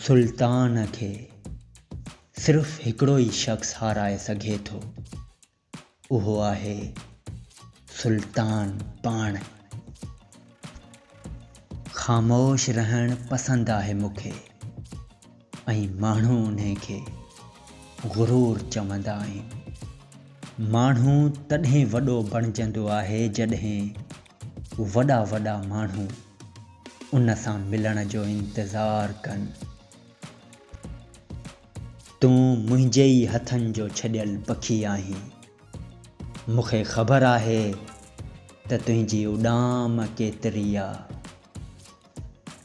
سلطان کي صرف هڪڙو ئي شخص هارائي سگهي ٿو اهو آهي سلطان پاڻ. خاموش رهڻ پسند آهي مون کي ۽ ماڻهو انهي کي غرور چوندا آهن. ماڻهو تڏهن وڏو بڻجندو آهي جڏهن وڏا وڏا ماڻهو ان سان ملڻ جو انتظار ڪن. تون منهنجي ئي هٿن جو ڇڏيل پکي آهين. مون کي خبر آهي ته تنهنجي اڏام ڪيتري آ.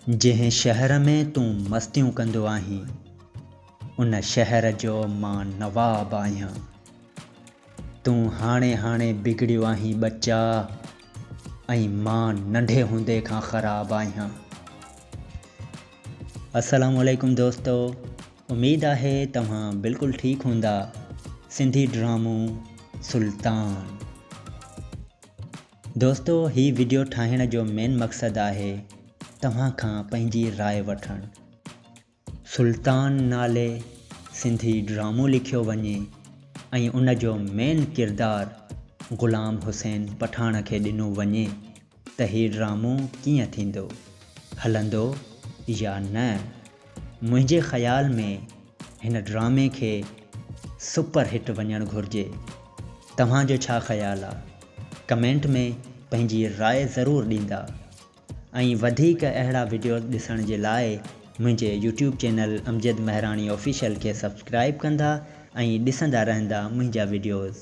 جنهن شهر ۾ تون مستيون ڪندو آهين، ان شهر جو مان نواب آهيان. تون هاڻي هاڻي بگڙيو آهين ٻچا ۽ مان ننڍي هوندي کان خراب آهيان. السلام عليڪم دوستو اميد آهي توهان بلڪل ٺيڪ هوندا سنڌي ڊرامو سلطان. دوستو هي وڊيو ٺاهڻ جو مين مقصد آهي توهان کان پنهنجي راء وٺڻ سلطان نالي سنڌي ڊرامو لکيو وڃي ۽ ان جو مين ڪردار غلام حسين پٺاڻ کي ڏنو وڃي ته هي ڊرامو ڪيئن ٿيندو هلندو يا نه. منهنجي خيال ۾ هن ڊرامي کي سپر هٽ وڃڻ گهرجي توهان جو ڇا خيال آ ڪمينٽ ۾ پنهنجي راء ضرور ڏيندا ۽ وڌيڪ اهڙا وڊيوز ڏسڻ جي لاء منهنجي YouTube channel Amjad Mehrani official کي سبسڪرائب ڪندا ۽ ڏسندا رهندا منهنجا وڊيوز.